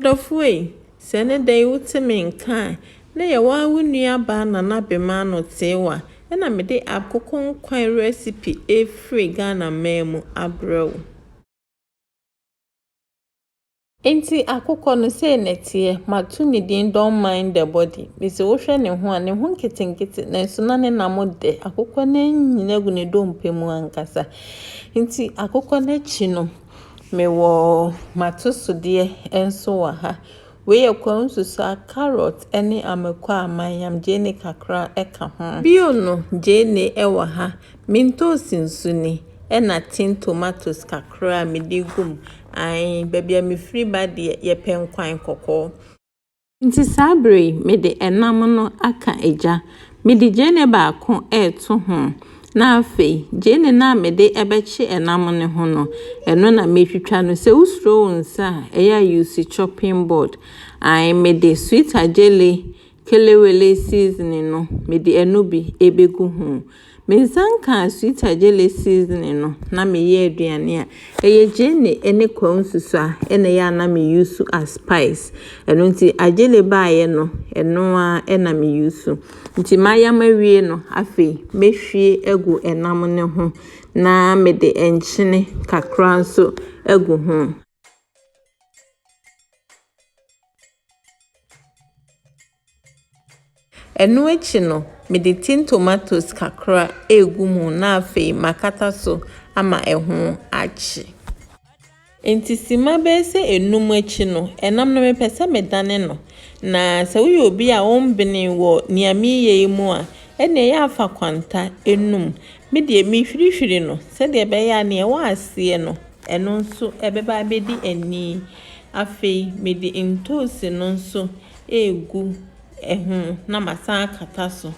M'adɔfo ei, sɛ ɛne da yi wote me nka a, na yɛwɔ ara wo nua baa Nana Bema ano tee wo a, ɛna mede akoko nkwan rɛsipi ɛrefiri Ghana man mu abrɛ wo. Enti akokɔ no sei na ɛteɛ, mato ne din Don't Mind the Body, mese wohwɛ ne ho a, ne ho nketenkete nanso na ne nam dɛ, akokɔ no anyini agu ne dompe mu ankasa. Enti akokɔ no akyi no. Mewɔ m'atosodeɛ nso wɔ ha. Wei yɛ kwansusa, carrot ne amako a mayam gyeene kakra ka ho. Bio no, gyeene wɔ ha, mintoosi nso ni, ɛna tin tomatoes kakra a mede gu mu. Ae, baabi a mefiri ba deɛ, yɛpɛ nkwan kɔkɔɔ. Nti saa bere yi mede ɛnam no aka gya, mede gyeene baako reto ho, na afei gyeene no a mede bɛkye ɛnam no ho no, ɛno na metwitwa no. Sɛ wosuro wo nsa a, ɛyɛ a you use chopping board. Ae, mede sweet ajele kelewele seasoning no, mede ɛno bi bɛgu ho. Me nsa nkaa sweet agyele seasoning no na me yɛ aduane a. Ɛyɛ gyeene ɛne kwawu nsusu a ɛna ɛyɛ a na me use as spice. Ɛno nti agyele baayɛ no ɛno ara ɛna me use. Nti mayam awie no afei me hwie agu ɛnam no ho na me de nkyene kakra nso agu ho. Ɛno akyi no, mede tin tomatoes kakra regu mu na afei makata so ama ɛho akye. Nti sima bɛyɛ sɛ enum akyi no, ɛnam no mepɛ sɛ medane no. Na sɛ woyɛ obi a wombene wɔ nea mereyɛ yi mu a, ɛnna ɛyɛ afa kwanta enum. Me deɛ mehwirihwiri no sɛdeɛ ɛbɛyɛ a nea ɛwɔ aseɛ no, ɛno nso ɛbɛba abɛdi ani. Afei mede ntoosi no nso regu ho na masan akata so.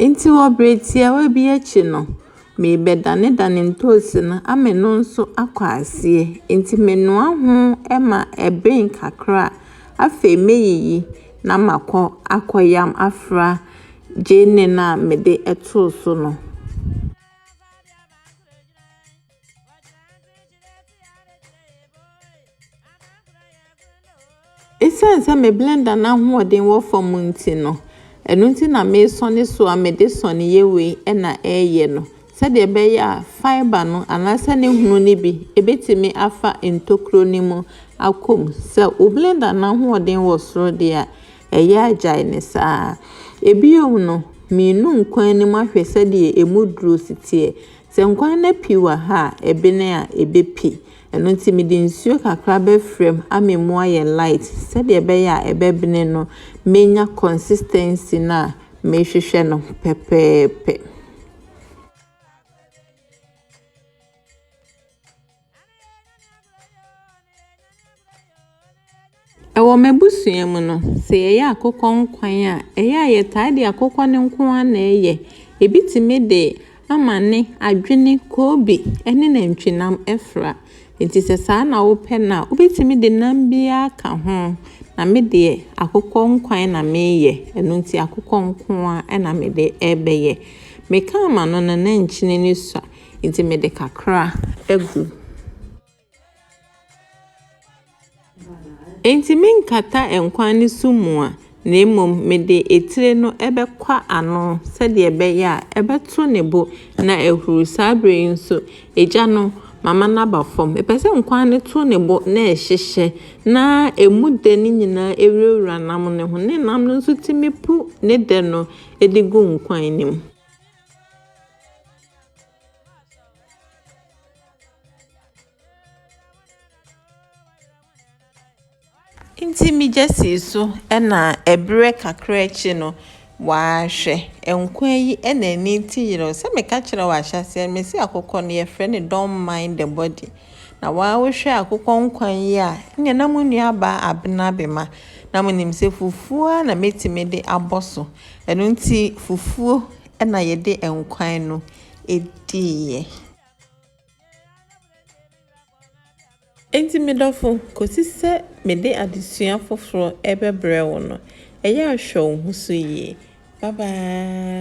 Enti wɔ bere tiawa bi akyi no, merebɛdanedane ntoosi no ama ɛno nso akɔ aseɛ. Enti menoa ho ma ɛben kakra a, afei mɛyiyi na makɔ akɔyam afra. Gyenne no a mede too so no. Esiane sɛ me blender no ahoɔden wɔ fam nti no, ɛno nti na mesɔne so a mede sɔneyɛ wei na ɛreyɛ no sɛdeɛ ɛbɛyɛ a fiber no anaasɛ ne hunu no bi ɛbɛtumi afa ntokuro no mu akɔ mu. Sɛ wo blender no ahoɔden wɔ soro deɛ a, ɛyɛ agyae no saa. Bio no, minu nkwan no mu ahwɛ sɛdeɛ ɛmu duro si teɛ. Sɛ nkwan no api wɔ ha a, ɛbene a, ɛbɛpi. Ɛno nti mede nsuo kakra bɛfra mu ama ɛmu ayɛ light sɛdeɛ ɛbɛyɛ a ɛbɛbene no mɛnya consistency no a mehwehwɛ no pɛpɛɛpɛ. Wɔ m'abusua mu no, sɛ yɛyɛ akokɔ nkwan a, ɛyɛ a yɛtaa de akokɔ no nko ara na ɛyɛ. Ebi tumi de amane, adwene, koobi ne nantwinam fra. Enti sɛ saa na wopɛ no a, wobɛtumi de nam biara aka ho. Na me deɛ, akokɔ nkwan na meyɛ. Ɛno nti akokɔ nko ara na mede rebɛyɛ. Meka ama no no, na nkyene no sua. Nti mede kakra agu. Enti menkata nkwa ne sum mu a, na mmom mede etire no bɛkwa ano sɛdeɛ ɛbɛyɛ a ɛbɛto ne bo na ahuru. Saa berɛ yi nso, egya no, mama no aba fam. Mepɛ sɛ nkwa no to ne bo na ɛhyehyɛ na ɛmu dɛ no nyinaa wurawura nam no ho, ne nam no nso tumi pu ne dɛ no de gu nkwan no mu. Ntsi megya sii so na mber kakra ekyir no, ɔahwɛ nkwa yi na emi tse yerɛw. Sɛ meka kyerɛ wo ahyɛse no, mese akokɔ no yɛfrɛ no don't mind the body. Na woahwɛ akokɔ nkwa yi a, nna na mo nuabaa abena abema. Na minyim sɛ fufuo ara na metumi de abɔ so. Ɛno nti fufuo na yɛde nkwan no diiɛ. Enti me dɔfo, kɔsi sɛ mede adesua foforɔ rebɛbrɛ wo no, ɛyɛ a hwɛ wo ho so yie. Bye bye.